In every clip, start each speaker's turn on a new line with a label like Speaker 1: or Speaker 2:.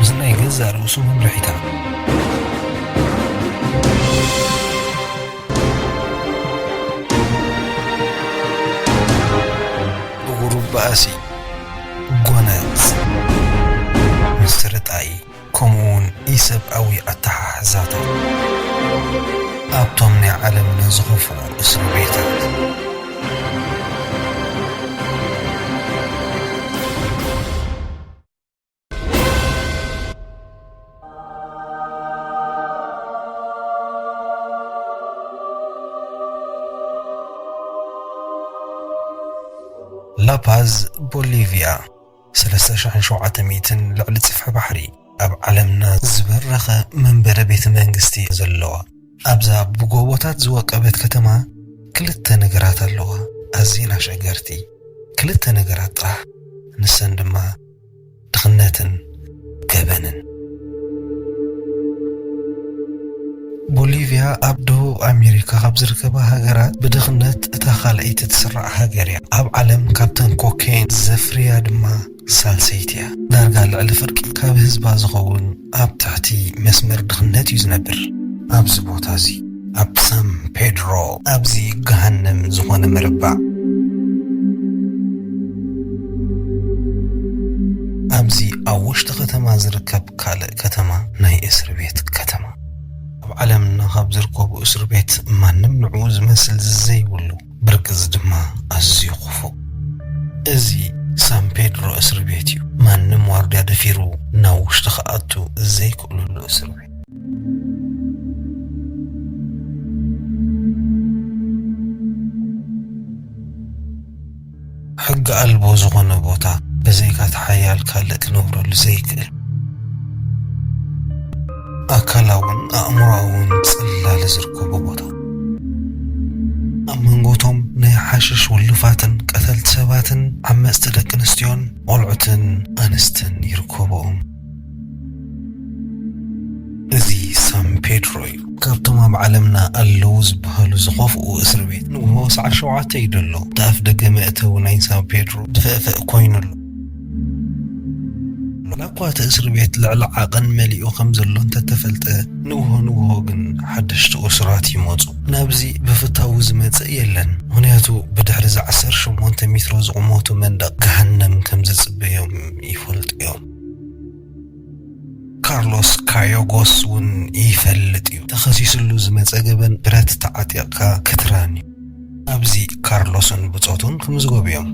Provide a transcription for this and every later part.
Speaker 1: እዚ ናይ ገዛእ ርእሱ መምርሒታት ብቑሩብ ባእሲ፣ ጎነጽ፣ ምስርጣይ፣ ከምኡውን ኢሰብኣዊ ኣተሓሕዛታት ኣብቶም ናይ ዓለምና ዝኸፍኡ እስር ቤታት። ላፓዝ፣ ቦሊቪያ። ሰለስተ ሽሕን ሸውዓተ ሚእትን ልዕሊ ጽፍሒ ባሕሪ ኣብ ዓለምና ዝበረኸ መንበረ ቤተ መንግስቲ ዘለዋ ኣብዛ ብጎቦታት ዝወቀበት ከተማ ክልተ ነገራት ኣለዋ ኣዝየን ኣሸገርቲ ክልተ ነገራት ጥራሕ ንሰን ድማ ድኽነትን ገበንን። ቦሊቭያ ኣብ ደቡብ ኣሜሪካ ካብ ዝርከባ ሃገራት ብድኽነት እታ ካልኣይቲ ትስራዕ ሃገር እያ። ኣብ ዓለም ካብተን ኮኬይን ዘፍርያ ድማ ሳልሰይቲ እያ። ዳርጋ ልዕሊ ፍርቂ ካብ ህዝባ ዝኸውን ኣብ ትሕቲ መስመር ድኽነት እዩ ዝነብር። ኣብዚ ቦታ እዚ። ኣብ ሳን ፔድሮ ኣብዚ ገሃነም ዝኾነ መረባዕ ኣብዚ ኣብ ውሽጢ ከተማ ዝርከብ ካልእ ከተማ ናይ እስር ቤት ከተማ ኣብ ዓለምና ካብ ዝርከቡ እስር ቤት ማንም ንዕኡ ዝመስል ዝዘይብሉ ብርግጽ ድማ ኣዝዩ ክፉእ እዚ ሳን ፔድሮ እስር ቤት እዩ ማንም ዋርድያ ደፊሩ ናብ ውሽጢ ክኣቱ ዘይክእለሉ እስር ቤት ሕጊ ኣልቦ ዝኾነ ቦታ ብዘይካቲ ሓያል ካልእ ክነብረሉ ዘይክእል ኣካላውን ኣእምሮኣውን ጽላለ ዝርከቦ ቦታ ኣብ መንጎቶም ናይ ሓሽሽ ውሉፋትን ቀተልቲ ሰባትን ዓመጽቲ ደቂ ኣንስትዮን ቆልዑትን ኣንስትን ይርከብኦም። እዚ ሳን ፔድሮ እዩ ካብቶም ኣብ ዓለምና ኣለዉ ዝበሃሉ ዝኸፍኡ እስሪ ቤት ንግሆ ሰዓት ሸውዓተ እዩ ደሎ እቲ ኣፍ ደገ መእተዊ ናይ ሳን ፔድሮ ድፍእፍእ ኮይኑ ኣሎ ላኳ እቲ እስሪ ቤት ልዕሊ ዓቐን መሊኡ ከም ዘሎ እንተተፈልጠ ንግሆ ንግሆ ግን ሓደሽቲ እሱራት ይመፁ ናብዚ ብፍታዊ ዝመፅእ የለን ምክንያቱ ብድሕሪ እዚ ዓሰርተ ሸሞንተ ሚትሮ ዝቑመቱ መንደቕ ገሃነም ከም ዝፅበዮም ይፈልጡ እዮም ካርሎስ ካዮጎስ ውን ይፈልጥ ዩ ተኸሲስሉ ዝመጸ ገበን ብረት ተዓጢቕካ ክትራን ዩ። ኣብዚ ካርሎስን ብጾቱን ክምዝገቡ ዮም።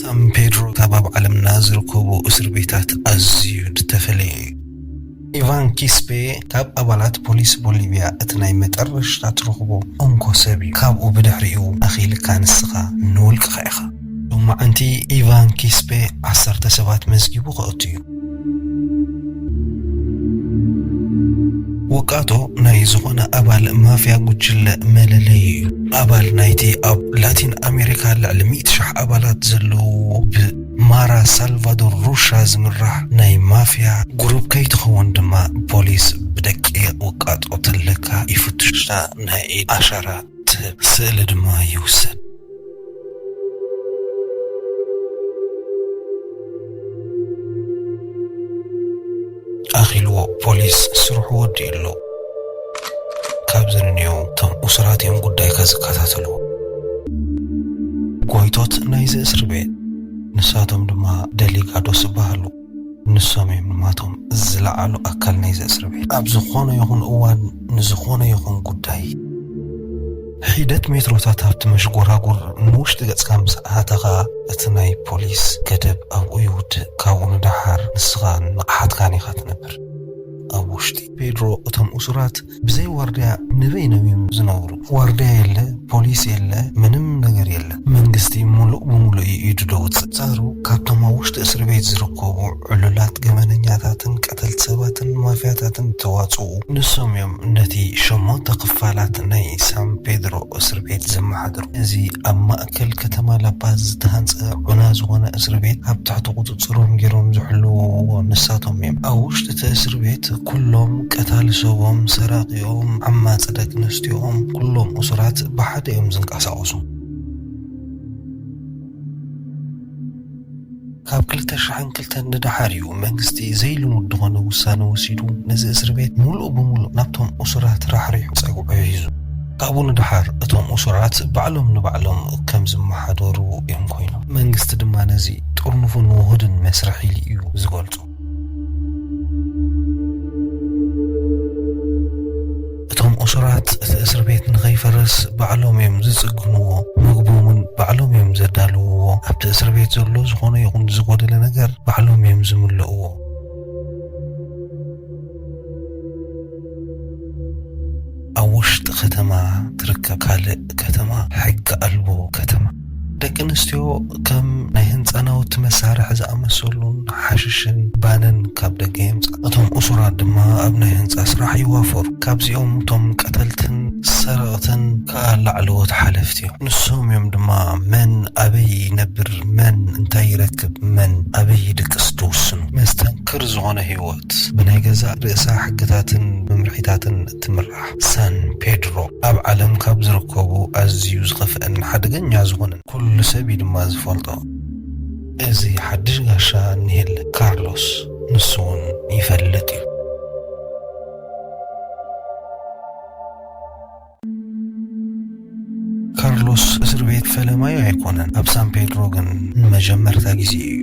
Speaker 1: ሳን ፔድሮ ካብ ኣብ ዓለምና ዝርከቡ እስርቤታት ኣዝዩ ድተፈለየ ዩ። ኢቫን ኪስፔ ካብ ኣባላት ፖሊስ ቦሊቪያ እቲ ናይ መጠረሽታ ትረኽቦ እንኮ ሰብ እዩ። ካብኡ ብድሕሪኡ ኣኺልካ ንስኻ ንውልቅኻ ኢኻ። ሎማዕንቲ ኢቫን ኪስፔ ዓሰርተ ሰባት መዝጊቡ ከእቱ እዩ። ውቃጦ ናይ ዝኾነ ኣባል ማፍያ ጉጅለ መለለዩ እዩ። ኣባል ናይቲ ኣብ ላቲን ኣሜሪካ ልዕሊ ሚእቲ ሽሕ ኣባላት ዘለውዎ ብ ማራ ሳልቫዶር ሩሻ ዝምራሕ ናይ ማፍያ ጉሩብ ከይትኸውን ድማ ፖሊስ ብደቂቅ ውቃጦ ተለካ ይፍትሹካ ናይ ኢድ ኣሻራ ትህብ ስእሊ ድማ ይውሰድ። ኣኺልዎ ፖሊስ ስርሑ ወዲኡ ኣሎ ካብዚ ንንየው እቶም እሱራት እዮም ጉዳይካ ዝከታተሉ ጎይቶት ናይዚ እስሪ ቤት ንሳቶም ድማ ደሊጋዶስ ይበሃሉ ንሶም እዮም ንማቶም ዝለዓሉ ኣካል ናይዚ እስሪ ቤት ኣብ ዝኾነ ይኹን እዋን ንዝኾነ ይኹን ጉዳይ ሒደት ሜትሮታት ኣብቲ መሽጎራጉር ንውሽጢ ገጽካ ምስ ኣእተኻ፣ እቲ ናይ ፖሊስ ገደብ ኣብኡ ይውድእ፣ ካብኡ ንደሓር ንስኻን ንቕሓትካን ኢኻ ትነብር። ኣብ ውሽጢ። ፔድሮ፣ እቶም እሱራት ብዘይ ዋርድያ ንበይኖም እዮም ዝነብሩ። ዋርድያ የለ፣ ፖሊስ የለ፣ ምንም ነገር የለ። መንግስቲ ሙሉእ ብሙሉእ እዩ ኢዱ ደውፅእ። ኣንፃሩ ካብቶም ኣብ ውሽጢ እስር ቤት ዝርከቡ ዕሉላት ገበነኛታትን ቀተልቲ ሰባትን ማፍያታትን ዝተዋፅኡ ንሶም እዮም ነቲ ሸሞንተ ክፋላት ናይ ሳን ፔድሮ እስር ቤት ዘመሓድሩ። እዚ ኣብ ማእከል ከተማ ላፓዝ ዝተሃንፀ ዑና ዝኾነ እስር ቤት ኣብ ትሕቲ ቁፅፅሮም ገይሮም ዝሕልውዎ ንሳቶም እዮም። ኣብ ውሽጢ እቲ እስር ቤት ኩሎም ቀታሊ ሰቦም፣ ሰራቒኦም፣ ዓማፂ ደቂ ኣንስትዮኦም ኩሎም እሱራት ብሓደ እዮም ዝንቀሳቐሱ። ካብ ክልተ ሽሕን ክልተን ንደሓር እዩ መንግስቲ ዘይልሙድ ዝኾነ ውሳነ ወሲዱ ነዚ እስር ቤት ሙሉእ ብሙሉእ ናብቶም እሱራት ራሕሪሑ ፀግዑ ሒዙ። ካብኡ ንደሓር እቶም እሱራት ባዕሎም ንባዕሎም ከም ዝመሓደሩ እዮም ኮይኖም። መንግስቲ ድማ ነዚ ጥርኑፉን ውሁድን መስርሕ ኢሉ እዩ ዝገልፆ። እቶም እሱራት እቲ እስር ቤት ንኸይፈርስ ባዕሎም እዮም ዝፅግንዎ፣ ምግቦም እውን ባዕሎም እዮም ዘዳልውዎ፣ ኣብቲ እስር ቤት ዘሎ ዝኾነ ይኹን ዝጎደለ ነገር ባዕሎም እዮም ዝምልእዎ። ኣብ ውሽጢ ከተማ ትርከብ ካልእ ከተማ ሕጊ ኣልቦ ከተማ። ደቂ ኣንስትዮ ከም ናይ ህንጻ ናውቲ መሳርሒ ዝኣመሰሉን ሓሽሽን ባንን ካብ ደገ የምጽኣ። እቶም እሱራት ድማ ኣብ ናይ ህንጻ ስራሕ ይዋፈሩ። ካብዚኦም እቶም ቀተልትን ሰረቕትን ከኣ ላዕለዎት ሓለፍቲ እዮም። ንሶም እዮም ድማ መን ኣበይ ይነብር፣ መን እንታይ ይረክብ፣ መን ኣበይ ይድቅስ ዝውስኑ። መስተንክር ዝኾነ ህይወት! ሞት ብናይ ገዛእ ርእሳ ሕግታትን መምርሒታትን እትምራሕ ሳን ፔድሮ፣ ኣብ ዓለም ካብ ዝርከቡ ኣዝዩ ዝኸፍአን ሓደገኛ ዝኾነን ኩሉ ሰብ እዩ ድማ ዝፈልጦ። እዚ ሓድሽ ጋሻ እኒሀለ ካርሎስ ንሱ እውን ይፈልጥ እዩ። ካርሎስ እስር ቤት ፈለማዩ ኣይኮነን። ኣብ ሳን ፔድሮ ግን ንመጀመርታ ግዜ እዩ።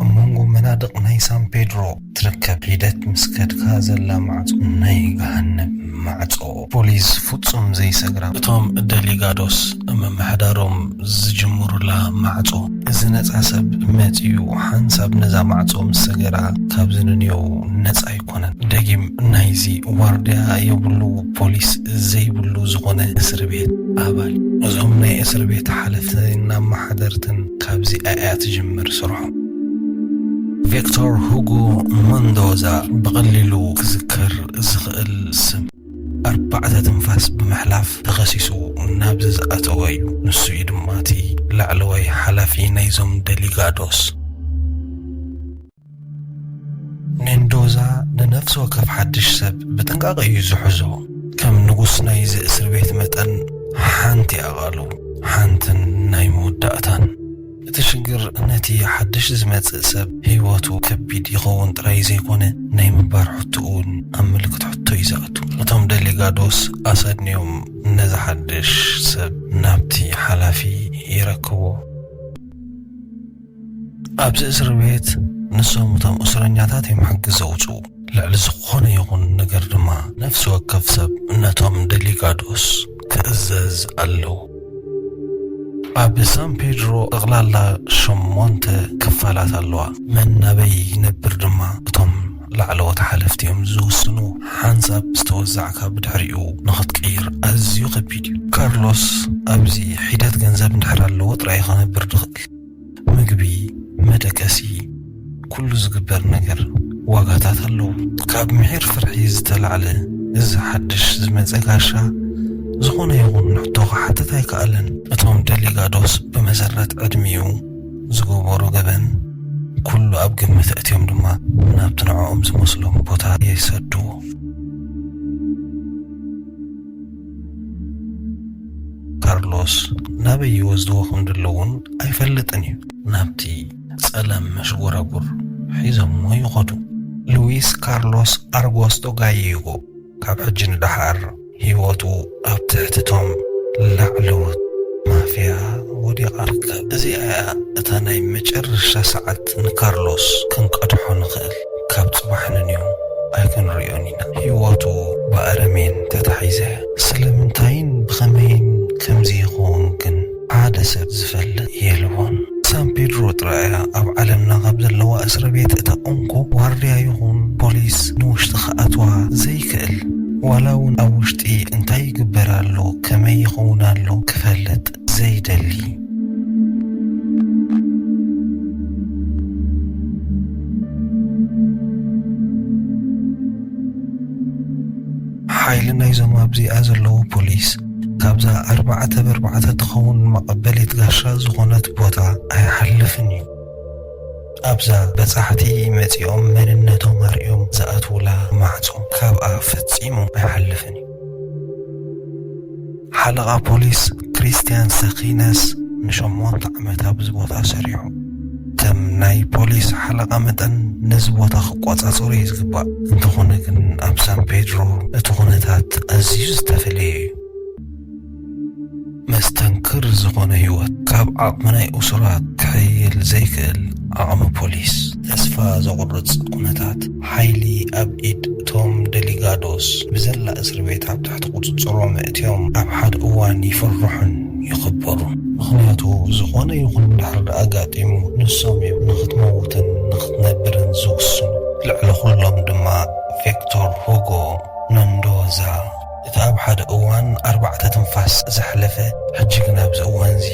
Speaker 1: ኣብ መንጎ መናድቕ ናይ ሳን ፔድሮ ትርከብ ሒደት ምስ ከድካ ዘላ ማዕጾ ናይ ገሃነብ ማዕጾ። ፖሊስ ፍጹም ዘይሰግራ፣ እቶም ደሊጋዶስ ምምሕዳሮም ዝጅምሩላ ማዕጾ፣ እዚ ነጻ ሰብ መጺኡ ሓንሳብ ነዛ ማዕጾ ምስ ሰገራ ካብዚ ንንዮው ነጻ ኣይኮነን። ደጊም ናይዚ ዋርድያ የብሉ ፖሊስ ዘይብሉ ዝኾነ እስሪ ቤት ኣባል፣ እዞም ናይ እስሪ ቤት ሓለፍትን ኣመሓደርትን ካብዚ ኣያ ትጅምር ስርሖም። ቬክቶር ሁጎ መንዶዛ ብቐሊሉ ክዝከር ዝኽእል ስም ኣርባዕተ ትንፋስ ብምሕላፍ ተኸሲሱ ናብዚ ዝኣተወ እዩ። ንሱ እዩ ድማ እቲ ላዕለዋይ ሓላፊ ናይዞም ደሊጋዶስ። ሜንዶዛ ንነፍሲ ወከፍ ሓድሽ ሰብ ብጥንቃቐ እዩ ዝሕዞ። ከም ንጉስ ናይዚ እስርቤት መጠን ሓንቲ ኣቓልቦ፣ ሓንትን ናይ መወዳእታን። እቲ ሽግር ነቲ ሓድሽ ዝመጽእ ሰብ ህይወቱ ከቢድ ይኸውን ጥራይ ዘይኮነ ናይ ምባር ሕቶኡ እውን ኣብ ምልክት ሕቶ እዩ ዝኣቱ። እቶም ደሊጋዶስ ኣሰንዮም ነዚ ሓድሽ ሰብ ናብቲ ሓላፊ የረክብዎ። ኣብዚ እስር ቤት ንሶም እቶም እስረኛታት እዮም ሕጊ ዘውጽኡ። ልዕሊ ዝኾነ ይኹን ነገር ድማ ነፍሲ ወከፍ ሰብ ነቶም ደሊጋዶስ ትእዘዝ ኣለው። ኣብ ሳን ፔድሮ ጠቕላላ ሸሞንተ ክፋላት ኣለዋ። መን ኣበይ ይነብር ድማ እቶም ላዕለዎት ሓለፍቲ እዮም ዝውስኑ። ሓንሳብ ዝተወዛዕካ ብድሕሪኡ ንኽትቅይር ኣዝዩ ከቢድ እዩ። ካርሎስ ኣብዚ ሒደት ገንዘብ እንድሕር ኣለዎ ጥራይ እዩ ክነብር ዝኽእል። ምግቢ መደቀሲ ኩሉ ዝግበር ነገር ዋጋታት ኣለዉ። ካብ ምሒር ፍርሒ ዝተላዕለ እዚ ሓድሽ ዝመጸ ጋሻ ዝኾነ ይኹን ሕቶ ክሓትት ኣይከኣለን። እቶም ደሊጋዶስ ብመሰረት ዕድሚኡ ዝገበሮ ገበን ኩሉ ኣብ ግምት ኣእትዮም ድማ ናብቲ ንዕኦም ዝመስሎም ቦታ ይሰድዎ። ካርሎስ ናበይ ይወስድዎ ከም ዘለዉን ኣይፈልጥን እዩ። ናብቲ ጸለም መሽጎራጉር ሒዞሞ ይኸዱ። ሉዊስ ካርሎስ ኣርጎስቶ ጋይይጎ ካብ ሕጂ ንደሓር ህይወቱ ኣብ ትሕቲ እቶም ላዕለዎት ማፍያ ወዲቓ ትርከብ። እዚኣ እያ እታ ናይ መጨረሻ ሰዓት ንካርሎስ ክንቀድሖ ንኽእል። ካብ ጽባሕ ንንዮም ኣይክንርእዮን ኢና ሂወቱ ብኣረሜን ተታሒዘ ስለምንታይን ብኸመይን ከምዚ ይኸውን ግን ሓደ ሰብ ዝፈልጥ የልቦን ሳን ፔድሮ ጥራይ እያ ኣብ ዓለምና ካብ ዘለዋ እስረቤት እታ እንኮ ዋርድያ ይኹን ፖሊስ ንውሽጢ ክኣትዋ ዘይክእል ዋላ ውን ኣብ ውሽጢ እንታይ ይግበር ኣሎ ከመይ ይኸውን ኣሎ ክፈልጥ ዘይደሊ ሓይሊ ናይዞም ኣብዚኣ ዘለዉ ፖሊስ ካብዛ ኣርባዕተ በርባዕተ ትኸውን መቐበሊት ጋሻ ዝኾነት ቦታ ኣይሓልፍን እዩ ኣብዛ በጻሕቲ መጺኦም መንነቶም ኣርእዮም ዝኣትውላ ማዕጾ ካብኣ ፈጺሙ ኣይሓልፍን እዩ ሓለቓ ፖሊስ ክሪስትያን ሰኺነስ ንሸሞንተ ዓመት ኣብዚ ቦታ ሰሪሑ። ከም ናይ ፖሊስ ሓለቓ መጠን ነዚ ቦታ ክቆጻጸሮ እዩ ዝግባእ። እንተኾነ ግን ኣብ ሳን ፔድሮ እቲ ኩነታት ኣዝዩ ዝተፈለየ እዩ። መስተንክር ዝኾነ ህይወት ካብ ዓቕሚ ናይ እሱራት ክሕይል ዘይክእል ዓቕሚ ፖሊስ። ተስፋ ዘቑርጽ ኩነታት ሓይሊ ኣብ ኢድ እቶም ደሊጋዶስ ብዘላ እስርቤት ኣብ ትሕቲ ቁጽጽሮም ኣእትዮም ኣብ ሓደ እዋን ይፍርሑን ይኽበሩን። ምኽንያቱ ዝኾነ ይኹን ድሕሪ ኣጋጢሙ ንሶም እዮም ንኽትመውትን ንኽትነብርን ዝውስኑ። ልዕሊ ኹሎም ድማ ቬክቶር ሁጎ መንዶዛ። እቲ ኣብ ሓደ እዋን ኣርባዕተ ትንፋስ ዘሕለፈ ሕጂ ግን ኣብዚ እዋንዚ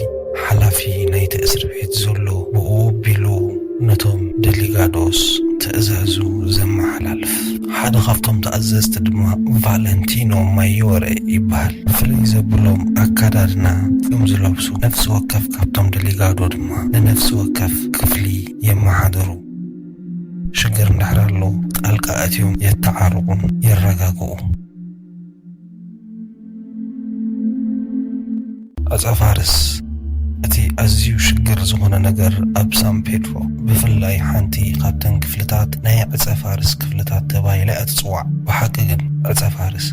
Speaker 1: ሓላፊ ናይቲ እስርቤት ዘሎ ብኡ ኣቢሉ ነቶም ደሊጋዶስ ትእዛዙ ዘመሓላልፍ ሓደ ካብቶም ተኣዘዝቲ ድማ ቫለንቲኖ ማዮረ ይበሃል። ፍልይ ዘብሎም ኣከዳድና ከም ዝለብሱ ነፍሲ ወከፍ ካብቶም ደሊጋዶ ድማ ንነፍሲ ወከፍ ክፍሊ የመሓድሩ። ሽግር እንድሕር ኣሎ ጣልቃ ኣትዮም የተዓርቑን የረጋግኡ። ኣጻፋርስ እቲ ኣዝዩ ሽግር ዝኾነ ነገር ኣብ ሳን ፔድሮ ብፍላይ ሓንቲ ካብተን ክፍልታት ናይ ዕጸ ፋርስ ክፍልታት ተባሂላ እያ ትጽዋዕ። ብሓቂ ግን ዕጸ ፋርስ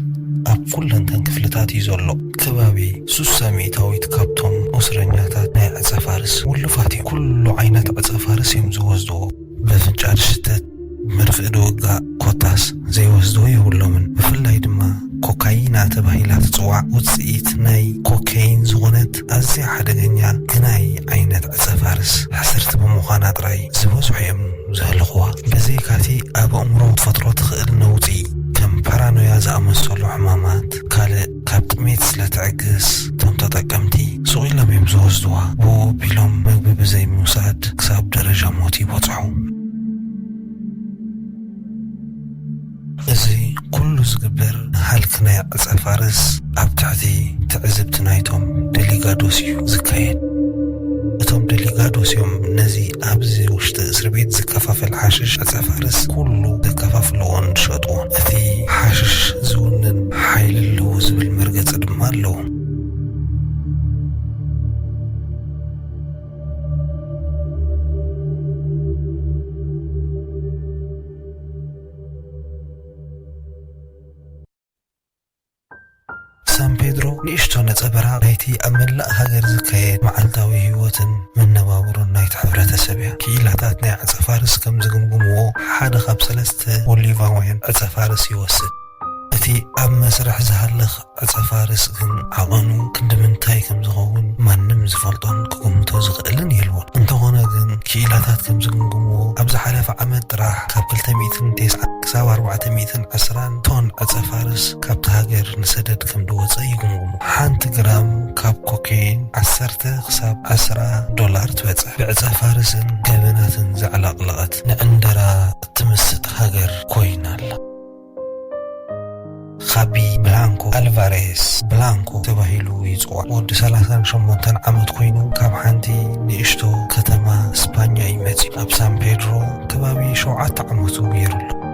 Speaker 1: ኣብ ኩለንተን ክፍልታት እዩ ዘሎ። ከባቢ ሱሳ ሚእታዊት ካብቶም እስረኛታት ናይ ዕጸ ፋርስ ውሉፋት እዮም። ኩሉ ዓይነት ዕጸ ፋርስ እዮም ዝወስድዎ። በፍንጫ ዝሽተት ብመርፍእ ድውጋእ ኮታስ ዘይወስዶ የብሎምን። ብፍላይ ድማ ኮካይና ተባሂላ ትጽዋዕ ውጽኢት ናይ ኮከይን ዝኾነት ኣዝያ ሓደገኛ ግናይ ዓይነት ዕጸ-ፋርስ ሕስርቲ ብምዃና ጥራይ ዝበዝሑ እዮም ዝህልኽዋ። ብዘይካ'ቲ ኣብ ኣእምሮ ክትፈጥሮ ትኽእል ነውጺ ከም ፓራኖያ ዝኣመሰሉ ሕማማት ካልእ ካብ ጥሜት ስለ ትዕግስ እቶም ተጠቀምቲ ሱቕ ኢሎም እዮም ዝወስዱዋ። ብኡ ኣቢሎም መግቢ ብዘይ ምውሳድ ክሳብ ደረጃ ሞት ይበጽሑ። እዚ ኩሉ ዝግበር ንሃልኪ ናይ ዕጸ ፋርስ ኣብ ትሕቲ ትዕዝብቲ ናይቶም ደሊጋዶስ እዩ ዝካየድ። እቶም ደሊጋዶስ እዮም ነዚ ኣብዚ ውሽጢ እስርቤት ዝከፋፈል ሓሽሽ ዕጸ ፋርስ ኩሉ ዘከፋፍልዎን ዝሸጥዎን። እቲ ሓሽሽ ዝውንን ሓይሊ ኣለዎ ዝብል መርገጺ ድማ ኣለዎ። ሳን ፔድሮ ንእሽቶ ነጸበራቕ ናይቲ ኣብ መላእ ሃገር ዝካየድ መዓልታዊ ህይወትን መነባብሮን ናይቲ ሕብረተሰብ እያ። ክኢላታት ናይ ዕጸፋርስ ከም ዝግምግምዎ፣ ሓደ ካብ ሰለስተ ቦሊቫውያን ዕጸፋርስ ይወስድ። እቲ ኣብ መስርሕ ዝሃልኽ ዕጸፋርስ ግን ዓቐኑ ክንድምንታይ ከም ዝኸውን ማንም ዝፈልጦን ክግምቶ ዝኽእልን የልቦን። እንተዀነ ግን፣ ክኢላታት ከም ዝግምግምዎ፣ ኣብ ዝሓለፈ ዓመት ጥራሕ ካብ ክልተ ሚእትን ቴስዓን ክሳብ ኣርባዕተ ሚእትን ዕስራን፣ ቶን ዕጸፋርስ ካብታ ሃገር ንሰደድ ከምድወጸ ይጉምጉሙ። ሓንቲ ግራም ካብ ኮኬይን ዓሰርተ ክሳብ ዕስራ ዶላር ትበጽሕ። ብዕጸፋርስን ገበናትን ዘዕለቕለቐት ንዕንደራ እትምስጥ ሃገር ኮይና ኣላ። ኻቢ ብላንኮ ኣልቫሬስ፣ ብላንኮ፣ ተባሂሉ ይጽዋዕ። ወዲ ሰላሳን ሸሞንተን ዓመት ኮይኑ ካብ ሓንቲ ንእሽቶ ከተማ ስፓኛ እዩ መጺኡ። ኣብ ሳን ፔድሮ ከባቢ ሸውዓተ ዓመቱ ገይሩ ኣሎ።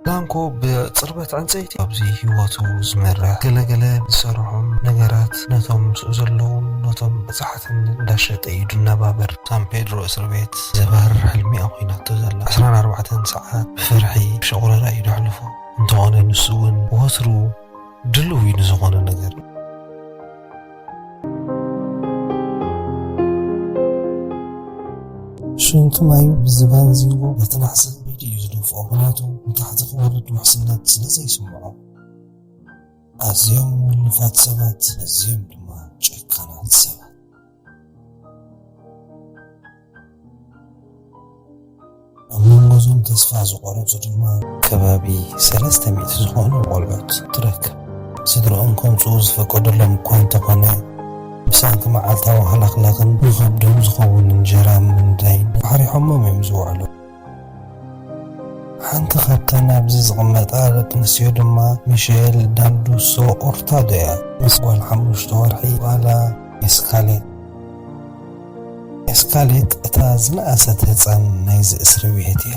Speaker 1: ዳንኮ ብጽርበት ዕንጸይቲ ኣብዚ ህይወቱ ዝመርሕ ገለ ገለ ዝሰርሖም ነገራት ነቶም ምስኡ ዘለዉን ነቶም በጻሕትን እንዳሸጠ እዩ ድነባበር። ሳን ፔድሮ እስርቤት ዘባርር ሕልሚ እያ ኮይናቶ ዘላ። ዕስራን ኣርባዕተን ሰዓት ብፍርሒ ብሸቑረራ እዩ ዘሕልፎ። እንተኾነ ንሱ እውን ወትሩ ድልው እዩ ንዝኾነ ነገር። ሽንቲ ማዩ ብዝባን ዚንጎ ነቲ ናሕስን ብኢዱ እዩ ዝደፍኦ ምክንያቱ ንታሕቲ ክወርድ ውሕስነት ስለ ዘይስምዖ ኣዝዮም ውሉፋት ሰባት ኣዝዮም ድማ ጨካናት ሰባት ኣብ መንጎ እዞም ተስፋ ዝቖረፁ ድማ ከባቢ ሰለስተ ሚእቲ ዝኾኑ ቆልዑት ትረክብ። ስድርኦም ከምፅኡ ዝፈቀደሎም እኳ እንተኾነ ብሰንኪ መዓልታዊ ሃለኽለኽን ንኸብዶም ዝኸውን እንጀራ ምንዳይን ፋሕሪሖሞም እዮም ዝውዕሉ። ሓንቲ ካብተን ኣብዚ ዝቕመጣ ደቂ ኣንስትዮ ድማ ሚሸል ዳንዱሶ ኦርታዶ እያ። ምስ ጓል ሓሙሽተ ወርሒ ጓላ ኤስካሌት። ኤስካሌት እታ ዝነኣሰት ህጻን ናይዚ እስርቤት እያ።